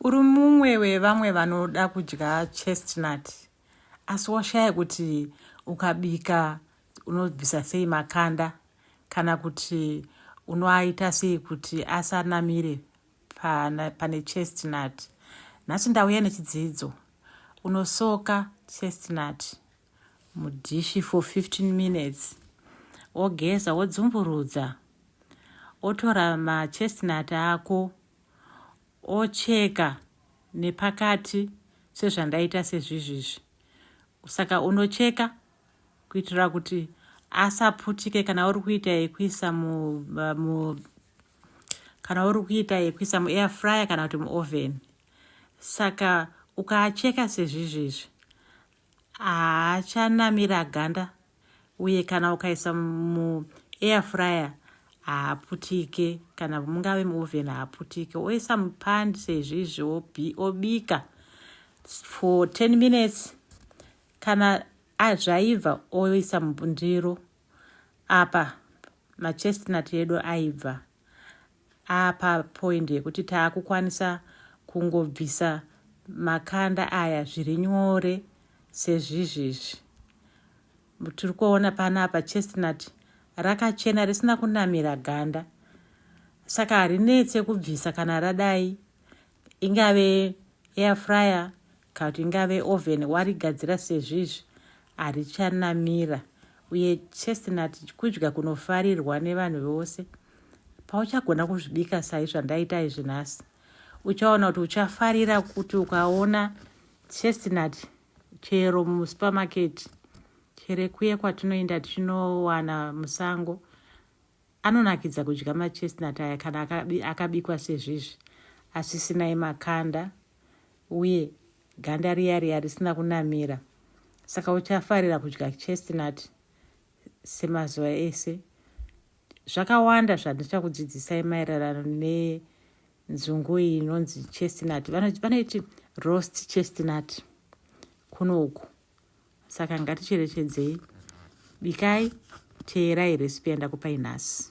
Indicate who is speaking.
Speaker 1: Uri mumwe wevamwe vanoda kudya chestnut asi washaya kuti ukabika unobvisa sei makanda kana kuti unoaita sei kuti asanamire pane chestnut. Nhasi ndauya nechidzidzo. Unosoka chestnut mudhishi for 15 minutes wogeza wodzumburudza wotora machestnut ako ocheka nepakati sezvandaita sezvizvizvi saka unocheka kuitira kuti asaputike kana uri kuita yekuisa mu, uh, mu kana uri kuita yekuisa muair fryer kana kuti muoven saka ukaacheka sezvizvizvi haachanamira ganda uye kana ukaisa mu air fryer haaputike kana mungave muoven haaputike oisa mupand seizvizvi obika for 10 minutes kana azvaibva oisa mundiro apa machestnut edu aibva apa point yekuti taakukwanisa kungobvisa makanda aya zviri nyore sezvizvizvi tiri kuona panapa chestnut rakachena risina kunamira ganda saka harinetse kubvisa kana radai ingave air fryer Kana kuti ingave oven warigadzira sezvo izvi harichanamira uye chestnut kudya kunofarirwa nevanhu vose. Pauchagona kuzvibika sai zvandaita izvi nhasi, uchaona kuti uchafarira kuti ukaona chestnut chero musupermarket chere kuye kwatinoenda tichinowana musango Anonakidza kudya machestnut aya kana akabikwa sezvizvi asisinai makanda uye ganda riya riya risina kunamira saka uchafarira kudya chestnut semazuva ese zvakawanda zvandichakudzidzisai maererano nenzungu iyi inonzi chestnut vanoiti roast chestnut kuno uku saka ngaticherechedzei bikai teerai recipe yandakupai nhasi